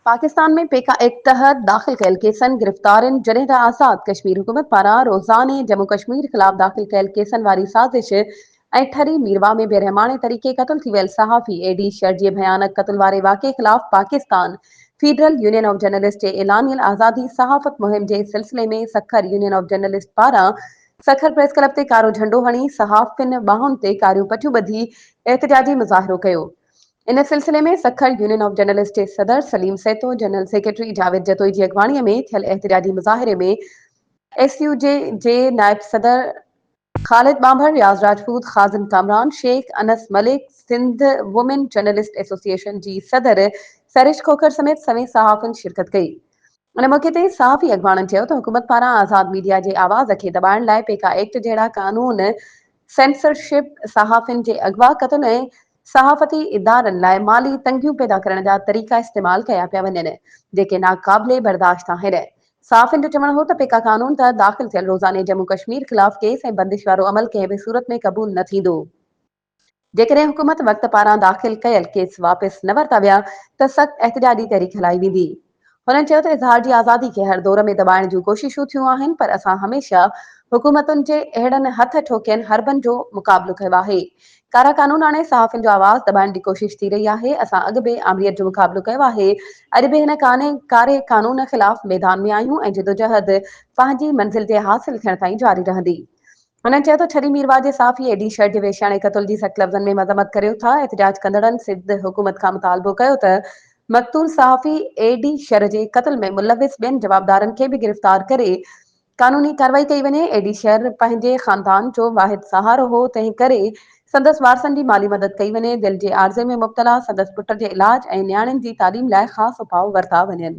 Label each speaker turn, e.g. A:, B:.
A: Pakistan ۾ PECA act تحت داخل ڪيل ڪيسن گرفتارين جڏهن ته آزاد ڪشمير حڪومت پاران روزاني جمون ڪشمير خلاف داخل ڪيل ڪيسن واري سازش ۽ ٺري ميرواهه ۾ بي رحماڻي طريقي قتل ٿي ويل صحافي اي ڊي شر جي ڀيانڪ قتل واري واقعي خلاف Pakistan federal union of journalist جي اعلانيل آزادي صحافت مهم جي سلسلي ۾ سکر يونين آف جرنلسٽ پاران سکر پريس ڪلب تي ڪارو جهنڊو هڻي صحافين ٻانهن تي ڪاريون پٽيون ٻڌي احتجاجي مظاهرو ڪيو ان سلسلي ۾ سکر يونين آف جرنلسٽ جي صدر سليم سيتو، جنرل سيڪريٽري جاويد جتوئي جي اڳواڻي ۾ ٿيل احتجاجي مظاهري ۾ ايس يو جي جي نائب صدر خالد ٻانڀر، رياض راجپوت، خازن Kamran Shaikh, Anas Malik, Sindh women journalist association جي صدر سريش کوکر سميت سوين صحافين شرڪت ڪئي. ان موقعي تي صحافي اڳواڻن چيو ته حڪومت پاران آزاد ميڊيا جي آواز کي دٻائڻ لاء پيڪا ايڪٽ جهڙا قانون سينسرشپ، صحافين جي اغوا، قتل ۽ صحافتي ادارن لاء مالي تنگيون پيدا ڪرڻ جا طريقا استعمال ڪيا پيا وڃن، جيڪي ناقابل برداشت آهن. صحافين جو چوڻ هو ته پيڪا قانون تحت داخل ٿيل روزاني جمون ڪشمير خلاف ڪيس ۽ بندش وارو عمل ڪنهن به صورت ۾ قبول نه ٿيندو. جيڪڏهن حڪومت وقت پاران داخل ڪيل ڪيس واپس نه ورتا ويا ته سخت احتجاجي تحريڪ هلائي ويندي. هنن چيو ته اظهار جي آزادي کي هر دور ۾ دٻائڻ جون ڪوششون ٿيون آهن پر اسان هميشه حڪومتن جي اهڙن هٿ ٺوڪين حربن جو مقابلو ڪيو آهي. ڪارا قانون آڻي صحافين جو آواز دٻائڻ جي ڪوشش ٿي رهي آهي، اسان اڳ به آمريت جو مقابلو ڪيو آهي، اڄ به هن ڪاري قانون خلاف ميدان ۾ آهيون ۽ جدوجهد پنهنجي منزل جي حاصل ٿيڻ تائين جاري رهندي. هنن چيو ته ڇري ميرواهه جي صحافي اي ڊي شرٽ جي ويشياڻي قتل جي سخت لفظن ۾ مذمت ڪريو ٿا، احتجاج ڪندڙن سنڌ حڪومت کان مطالبو ڪيو ته مقتول صحافي اي ڊي شر جي قتل ۾ ملوث ٻين جوابدارن کي به گرفتار ڪري قانوني ڪاروائي ڪئي وڃي، اي ڊي شر پنهنجي خاندان جو واحد سهارو هو تنهن ڪري سندس وارثن جي مالي مدد ڪئي وڃي، دل جي عارضي ۾ مبتلا سندس پٽ جي علاج ۽ نياڻين جي تعليم لاء خاص اپاء ورتا وڃن.